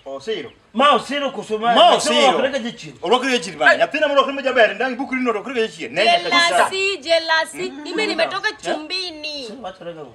osiro ma osiro koso ma Ma osiro. wakorega jachien olwakore jachien bana nyathina molwakore ma jaber ndang' ibukri no olwakore jachien ne nyaka Jelasi, jelasi. Mimi nimetoka chumbini. wakorega go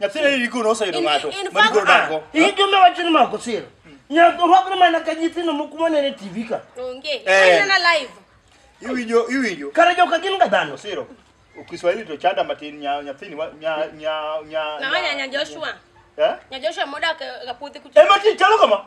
Nyathina ni rigo noseyudo In- ng'ato in ma fact- rigo dago. Iyi jombe wacho ni mako sira. Nyaka orwakre mana ka nyithindo moko manene TV ka. Onge. Eh. Inena live. Iwinjo iwinjo. Kare joka gin ga dhano. Siro. Kiswahili to chanda matin nya nyathini wa- nya nya nya. Na wanya nya Joshua. Eh? Nya Joshua modak e- e puothi kucho. Ema ti chalo kama.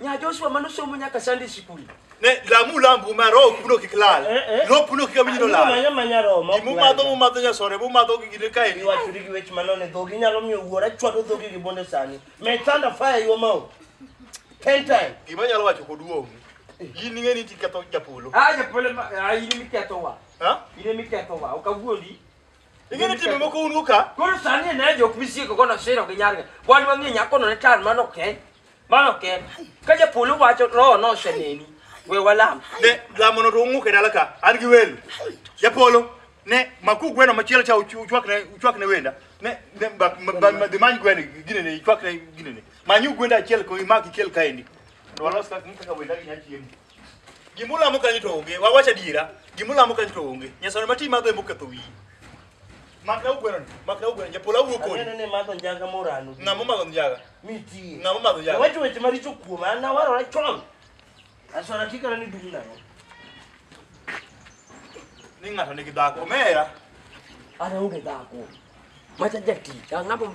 Nya Joshua mano somo nyaka Sunday school. Ne lamu lambu ma roho puno kik lal. Eh, eh. Roho puno kik amini no lal. Manya manya roho ma. Gimu madho mu madho nya sore, mu madho gi gine kae ni. Iwacho gi wech mano ne dhogi nyalo miyo wuora chwado dhogi gi bonde sani. Me thunder fire yo mau. Ten time. Gima nyalo wacho kod wuomu. In ing'e ni tiketho japolo. Ah, japolo ma, ah, in miketho wa. Ha? In miketho wa. Okawuondi. Ing'e ni timbe moko un uka. Koro sani ne jok misieko kono siro gi nyarga. Wan wang'e nyakono ne tan mano ken. Mano ken. Ka japolo wacho roho no oseneni. We walam. Ne lamono to ung'uke dala ka. An gi welo. Japolo ne maku gweno machielo cha uchu- uchwakne uchwakne wenda. Ne ne bak- ma- ma- ma- dhi many gweno gine ne ichwakne gine ne. Manyu gwenda achiel ko imaki kel kaendi. Mondo walos kaka kaka wenda gi nyachiemo. Gimulamo kanyo to onge, wawach adiera, gimulamo kanyo to onge. Nyasaye ma ti madho emoketho wiyi. Makna ugweno ni, makna ugweno, japola wuo kodi. Aneno ni madho njaga morano. Ng'ama omadho njaga? Mitie. Ng'ama omadho njaga? Wacho weche maricho kuoma, an awarora chon. Aswara tikana ni dum nang'o. Ni ng'ato nigi dhako, omera. An aonge dhako. Macha jatich, ang'ama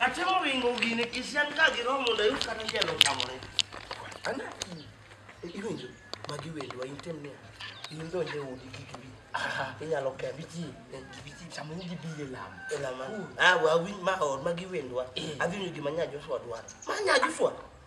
Atemo ringo gini kisian ka giromo mondo ayud kata jalo tamore. Ana iwinjo magi wendwa item ne in donje udi kik bi. Inyalo ke bichi bichi chamo gi bi e lam. E lam. Ah wa wi ma or magi wendwa. Adhi nyo gima nya Joshua dwaro. Ma nya Joshua.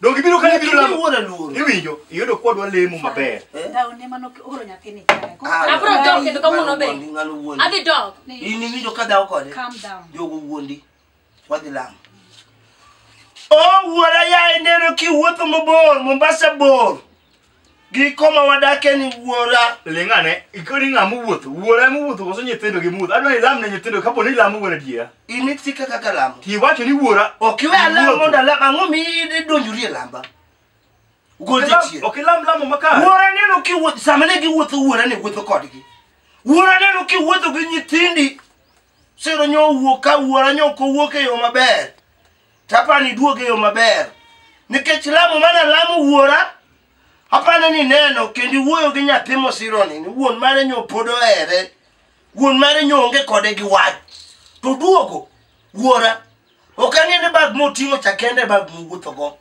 Donge ibiro ka ibiro lamo. Iwuon aluoro. Iwinjo, iyudo kwa dwa lemo maber. Dawo ne mano oro nyathini kare. Ko- Ah, Abro ah, dok kendo kawuono be. wuondi, ng'ano wuondi. Adhi dok. In iwinjo ka dhawo kode. Calm down. Jogo wuondi. Wadhi lamo. Oh, wuora yaye neno kiwuotho mabor, Mombasa bor. giko ma wadakie ni wuora ling'ane ikoni ng'a mowuotho wuora mowuotho koso nyithindo gi mudho adwa ni ilam ne nyithindo kapo ni ilamo wuon adiera in itika kaka lamo tiwacho ni wuora ok iwe alam iwuotho. mondo alam ang'o mi idonjori e lamba gol Ok ilam- jachien ok ilam lamo makare wuora neno kiwuotho sama ne giwuotho wuora ne wuotho kodgi wuora neno kiwuotho gi nyithindi siro nyo owuok ka wuora nyo kowuok e yo maber Tapani duoge yo maber. Nikech lamo mana lamo wuora, apane ni neno kendo iwuoyo gi nyathi mosironi ni wuon mare nyo pod ohere wuon mare nyo onge kode gi wach to duogo wuora ok ang'e ni bag moting'o cha kende bag mowuothogo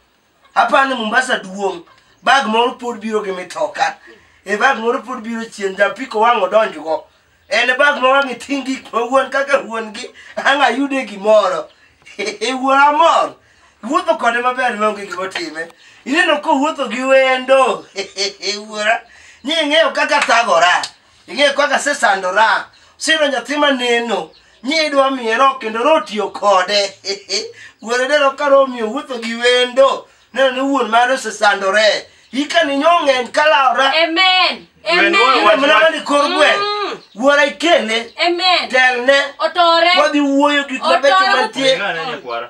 apani mombasa duong' bag moro pod biro gi mitoka e bag moro pod biro chien japiko wang' odonjgo en e bag ma wang'e ting' gik ma wuon kaka wuon gi ang' ayude gimoro e wuon amor wuotho kode maber maonge gimotime ineno kowuotho gi wendo wuora ni ing'eyo kaka thagora ing'eyo kaka asesandora siro nyathi maneno nyidwa miero kendo rotiyo kode wuoro dero ka romiyo wuotho gi wendo neno ni wuon mare osesandore hika ni nyo ng'eny kalaora Amen. Amen. mana mani kor gweng Mm. wuora ikele Amen. telne Otore. wadhi wuoyo gik mabecho Otore. mantie Ng'ane nyakwara.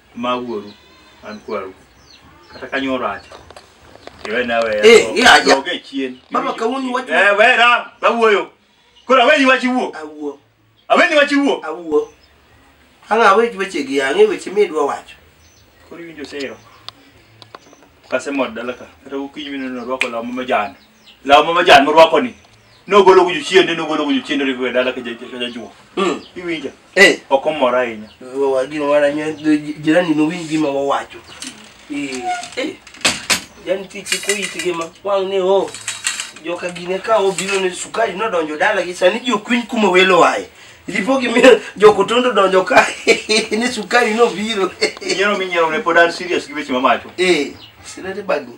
Ma wuoru, an kwaru. Kata kanyo rach. Iwena weya. Eh, eh, aja. Doge chien. Baba, kawuono iwacho- Eh, wera, awuoyo. Koro aweni wach iwuo. Awuo. Aweni wach iwuo. Awuo. Ang' awe weche gi ang'e weche midwa wacho. Koro iwinjo sero. Kasemod dala ka. Kata gokinyi mineno orwako law ma majan. law ma majan morwako ni nogolo go jochiende nogolo go jochiende oriwo e dala ka ja- ka jajuo Mm. iwinja Eh. ok omora ahinya Wa- gima wana nyo- ji- jirani nowinj gima wawacho Eh, eh. yani tich koyit gima wang' ni o joka gine ka obiro ne sukari nodonjo dala gi sani ji okwiny kuma welo aye lipo gi mi- jokotondo donjo ka ni sukari nobiro nyiero minyiero ne pod an serious gi weche mamacho eh sirete bagni